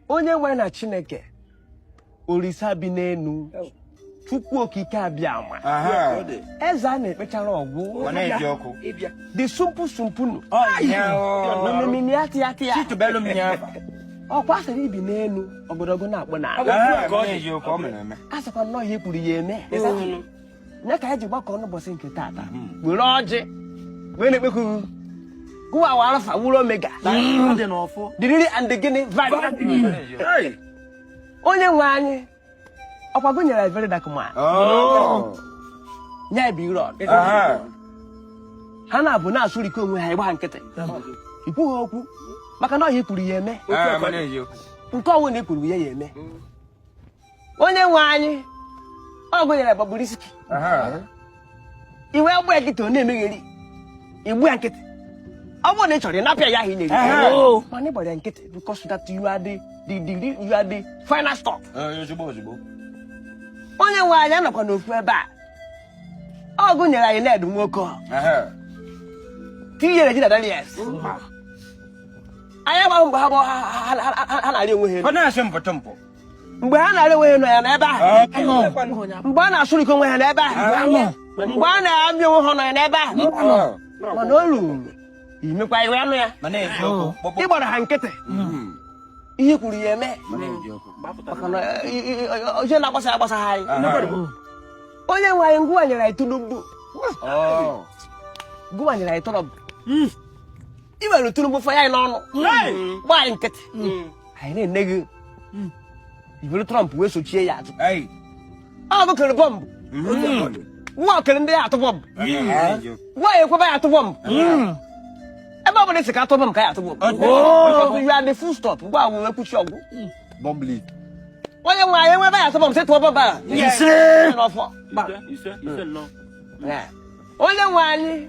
onye nwe anyị na chineke orisa bi n'enu chukwu okike abịama eze a na-ekpechara ọgwụ dị sumpu sumpu nụ omimini ya tịya tịya ọkwa asịrị i bi n'enu ogodo gị na-akpụ n'ana asịkwa na ọ ihe i kwuru ya eme ya ka anyị ji gbakọ n'ụbọchị nke taata were ọjị wee na-ekpekuru gụwa wụ alfa wụrụ omega diriri and gịnị onye nwe anyị ọkwa gụ nyere very dark man oh. ya Blord ha na-abụ na-asụrikọ onwe ha ị gba nkịtị i kwughị okwu maka na ọ ihe i kwuru ya eme nke ọ wụna i kwuru ya ya eme onye nwe anyị ọ gụ nyere gbagburu isi iwe agba nkịtị ọ na-emegheri igbu ya nkịtị ọ bụrụ na ị chọrọ ịnapịa ya ahụ ị na-eri oh. mana ị gbara ya nkịtị because that you are the the the you are the final stop onye nwe anyị anọkwa n'ofu ebe a ọ gụ nyere anyị Ned Nwoko tinye Regina Daniels anyị agbaghị mgbe ha na-arị onwe ha mgbe ha na-arị onwe ha nọ ya n'ebe ahụ mgbe a na-asụrịkọ onwe ha n'ebe ahụ mgbe a na-amị onwe ha nọ ya n'ebe ahụ mana o ruru imekwa iwe anụ ya ị gbara ha nkịtị ihe i kwuru ya eme maka na oche na-agbasa agbasa ha anyị onye nwe anyị gụwa nyere anyị Tinubu gụwa nyere anyị Trump i were Tinubu fọ ya n'ọnụ gba anyị nkịtị anyị na-ene gị i buru Trump wee sochie ya azụ ọ bụ kere bọmbụ nwa okere ndị ya atụ bọmbụ nwa ya ekweba ya atụ bọmbụ ebe ọ bụla i si ka a tụ bọmbụ ka ya atụ bọmbụ you are the full stop gụwa wụ wee kwuchi ọgwụ bọmbụ league onye nwe anyị nwebe ya atụ bọmbụ sị tụọ bọmbụ a ise n'ọfọ onye nwe anyị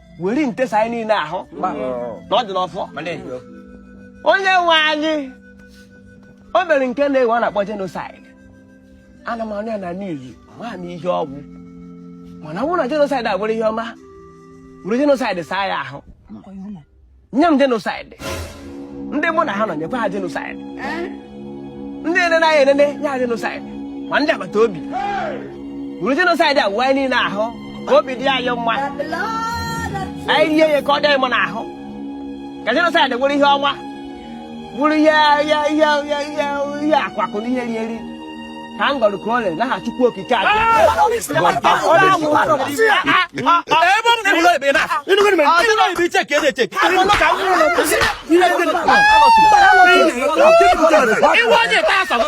were nte saa anyị niile ahụ na ọ dị n'ọfọ onye nwe anyị o nwere nke nwa a na-akpọ genocide ana m anụ ya na niuz amaghị m ihe ọ wụ mana ọ bụrụ na genocide a bụrụ ihe ọma were genocide saa ya ahụ nye m genocide ndị mụ na ha nọ nyekwa ha genocide ndị enene anyị enene nye ha genocide ma ndị agbata obi were genocide a wụwa anyị niile ahụ ka obi dị anyị mma anyị rie ya ka ọ dị anyị mma n'ahụ ka genocide wụrụ ihe ọma wụrụ ihe ihe ihe ihe ihe akwakụ na ihe eri eri ka m gọrọ ka o lee n'aha chukwu okike a iwe onye taa asọgụ